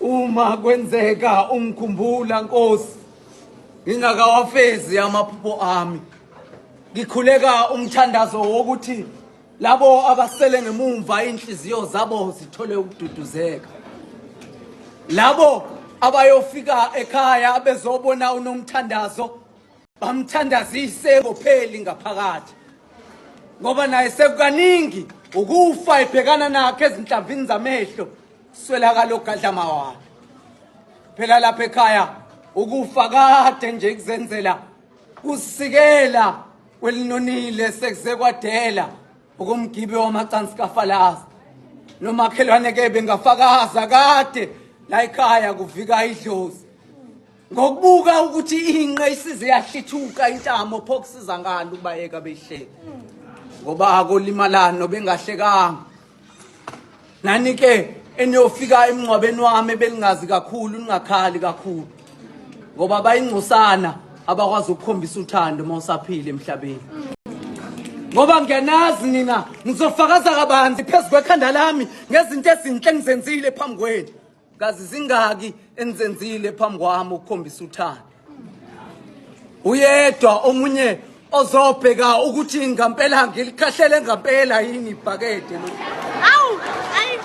Uma kwenzeka ungikhumbula Nkosi ngingakawafezi amaphupho ami ngikhuleka umthandazo wokuthi labo abasele ngemumva inhliziyo zabo zithole ukududuzeka labo abayofika ekhaya bezobona unomthandazo bamthandazise engopheli ngaphakathi ngoba naye sekukaningi ukufa ebhekana nakhe ezinhlamvini zamehlo swelakala ogadlama wakhe phela lapha ekhaya ukufa kade nje kuzenzela kusikela kwelinonile sekuze kwadela ukumgibe wamacansi kafalazi nomakhelwane ke bengafakaza kade la ekhaya kuvika idlozi ngokubuka ukuthi inqe isize yahlithuka intamo pho kusiza ngani ubayeka behleki ngoba akolimalani nobengahlekanga nani ke eniyofika emngcwabeni wami belingazi kakhulu ningakhali kakhulu ngoba bayingcosana abakwazi ukukhombisa uthando uma usaphile emhlabeni ngoba ngiyanazi nina ngizofakaza kabanzi phezu kwekhanda lami ngezinto ezinhle engizenzile phambi kwenu kazi zingaki enizenzile phambi kwami ukukhombisa uthando uyedwa omunye ozobheka ukuthi ngampela ngilikhahlele ngampela yini ibhakede lo Awu, ayi,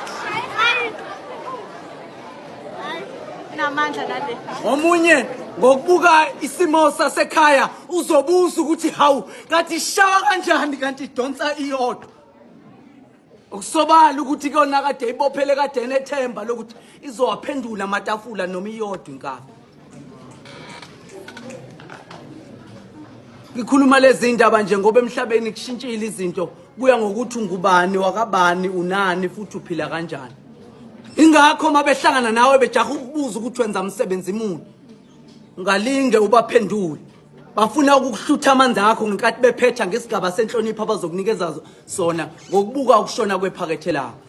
ayi. Ayi, namandla nale. omunye ngokubuka isimo sasekhaya uzobuza ukuthi hawu kanti ishawa kanjani kanti idonsa iyodwa Okusobala ukuthi kuyona kade ibophele kade enethemba lokuthi izowaphendula amatafula noma iyodwa inkabi. Ngikhuluma lezi ndaba nje ngoba emhlabeni kushintshile izinto kuya ngokuthi ungubani wakabani unani futhi uphila kanjani. Ingakho mabehlangana nawe bejaha ukubuza ukuthi wenza umsebenzi muni. Ungalinge ubaphendule. bafuna ukuhlutha amanzi akho ngenkathi bephetha ngesigaba senhlonipho abazokunikeza sona ngokubuka ukushona kwephakethe lakho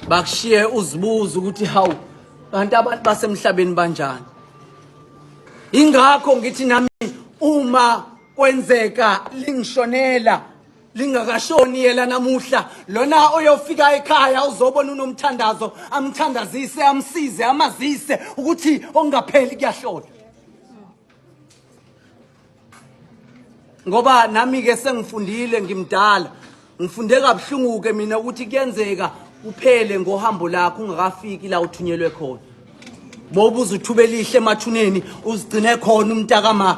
bakushiye uzibuza ukuthi hawu kanti abantu basemhlabeni banjani ingakho ngithi nami uma kwenzeka lingishonela lingakashoni yela namuhla lona oyofika ekhaya uzobona unomthandazo amthandazise amsize amazise ukuthi ongapheli kuyahlola ngoba nami ke sengifundile ngimdala ngifunde kabuhlungu ke mina ukuthi kuyenzeka uphele ngohambo lakho ungakafiki la uthunyelwe khona bobuza uthubelihle emathuneni uzigcine khona umntakama